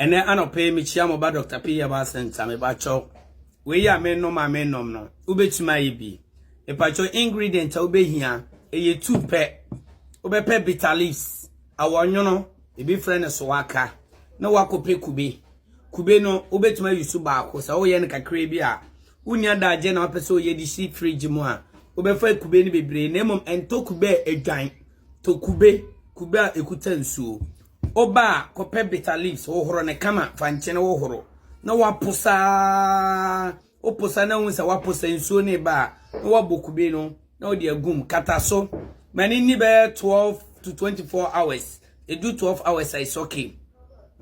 ɛnɛ anɔpɛ yi mekyia mo ba dr p yɛba asɛnta mepakyɛw wei a menom a menom no wobɛtumi ayɛ bi mepakyɛw ingredient a wobɛhia ɛyɛ tu pɛ wobɛpɛ bitter leaves Awɔnwono, ebi frɛ no sowaka, na woakɔpɛ kube. Kube no, wobɛtumi ayi so baako. Sɛ woyɛ no kakraa bi a, wonni adagyeɛ na wopɛ sɛ woyɛ de si fridge mu a, wobɛfa kube no bebree. Na mmom ɛntɔ kube a adwan. Tɔ kube, kube a ɛkuta nsuo. Woba a, kɔpɛ bitter leaves, hohoro no kama, fa nkyene hohoro, na woapo saa. Woposa na wohu sɛ wɔaposa nsuo no reba a, na woabɔ kube no na wode agu mu. Kata so ma no nni bɛyɛ 12 to 24 hours. Ɛdu 12 hours a, it's okay.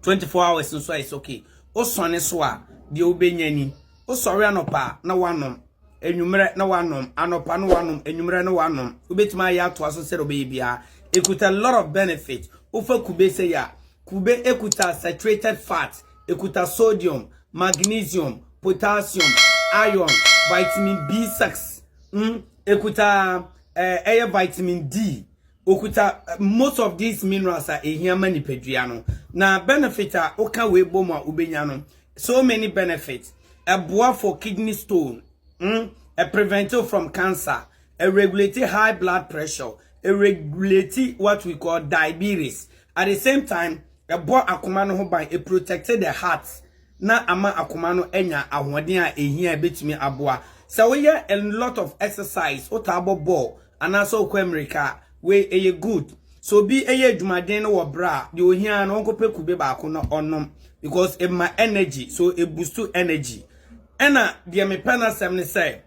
24 hours nso a, it's okay. Wosɔne so a, deɛ wobɛnya ni. Wosɔre anɔpa a, na woanom. Anwummerɛ na woanom. Anɔpa na woanom. Anwummerɛ na woanom. Wobɛtumi ayɛ atoa so sɛdeɛ wobɛyɛ biara. Ɛkuta a lot of benefit. Wofa kube sɛi a, Kube kuta saturated fat, ɛkuta sodium, magnesium, potassium, iron, vitamin B6, mm, ɛkuta eh, ɛyɛ vitamin D, okuta eh, most of these minerals a ɛhia ma nipadua no. Na benefit a woka wei bɔ mu a wobɛnya no, so many benefits. Ɛboa for kidney stone, mm, ɛprevent you from cancer, Ɛregulate high blood pressure, ɛregulate what we call diabetes, at the same time ɛbɔ akoma no ho ban, it protects the heart na ama akoma no anya ahoɔden a ɛhia a ɛbɛtumi aboa. Sɛ woyɛ a lot of exercise, wotaa bɔ bɔɔl anaasɛ wokɔ ammirika a, wei ɛyɛ good. Sɛ obi yɛ adwumaden no wɔ berɛ a, deɛ ɔhia ara no ɔnkɔpɛ kube baako na ɔnom because ɛma energy, so ɛbustu energy. Ɛna deɛ mepɛ n'asɛm ne sɛ,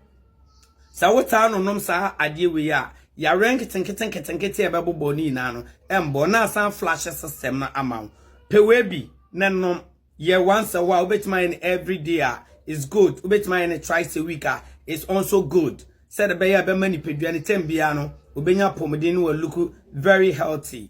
Sɛ wotaa nonom saa adeɛ wei a, yareɛ nketenketenketenkete a ɛbɛbobɔ wo no nyinaa no, ɛmmɔ wo na asan flushe system no ama wo. Pɛ wei bi na nom. Yɛ once a while, wobɛtumi ayɛ no everyday a, it's good. Wobɛtumi ayɛ no thrice a week a, it's also good. Sɛdeɛ ɛbɛyɛ a ɛbɛma nipadua no tɛm biara no, ɔbɛnya apɔmuden na wa look very healthy.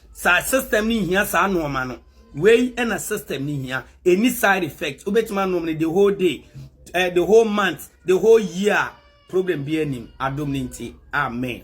Saa system no nhia saa nnoɔma no. Wei na system no hia. Ɛnni side effect. Wobɛtumi anom no the whole day, eh, the whole month, the whole year. Problem biara nnim. Adom no nti. Amen.